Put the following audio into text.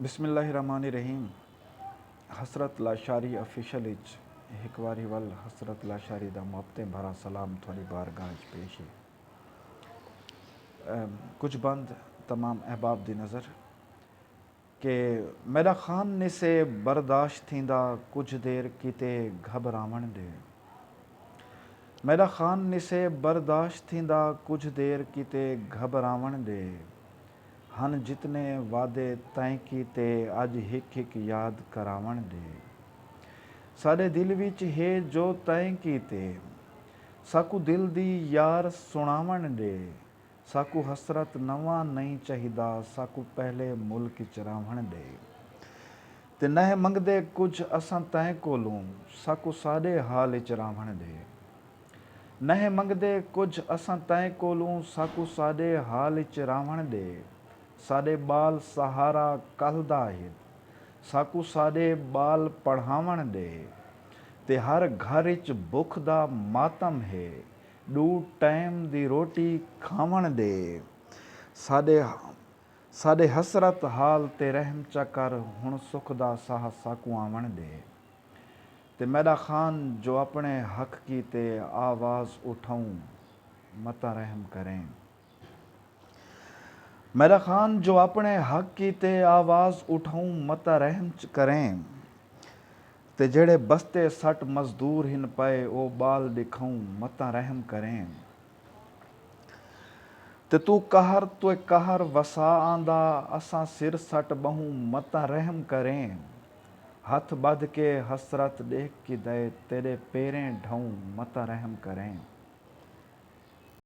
بسم اللہ الرحمن الرحیم حسرت لاشاری آفیشل اچ ہک واری ول حسرت لاشاری دا محبتیں بھرا سلام تھوڑی بارگاہ اچ پیش ہے۔ کچھ بند تمام احباب دی نظر۔ کہ میڈا خان نسے برداشت تھیندا کجھ دیر کیتے گھبراون ڈے۔ میڈا خان نسے برداشت تھیندا کجھ دیر کیتے گھبراون ڈے۔ ہن جتنے وعدے تیں کیتے اج ہک ہک یاد کراون ڈے ساڈے دل وچ ہے جو تیں کیتے ساکوں دل دی یار سنڑاون ڈے ساکوں حسرت نواں نئیں چاہیدا ساکوں پہلے ملک اچ راون ڈے تے نہہ منگدے کجھ اساں تیں کولوں ساکوں ساڈے حال اچ راون ڈے۔ نہہ منگدے کجھ اساں تئیں کولوں ساکوں ساڈے حال اچ راہوݨ ڈے ساڈے بال سہارا کلھدا ہن ساکوں ساڈے بال پڑھاوݨ ڈے تے ہر گھر اچ بکھ دا ماتم ہے ڈو ٹائم دی روٹی کھاوݨ ڈے ساڈے ساڈے حسرت حال تے رحم چا کر ہن سکھ دا ساہ ساکوں آوݨ ڈے۔ تے میݙا خان جو اپݨے حق کیتے آواز اٹھاؤں متاں رحم کریں۔ میݙا خان جو اپݨے حق کیتے آواز اٹھاؤں متاں رحم کریں۔ تے جیڑھے بستے سٹ مزدور ہن پئے او ٻال ݙکھاؤں متاں رحم کریں۔ تے توں قہر تے قہر وسا آندا اساں سر سٹ ٻہوں متاں رحم کریں۔ ہتھ ٻدھ کے حسرت ݙیکھ کیدئے تیݙے پیریں ڈھوں متاں رحم کریں۔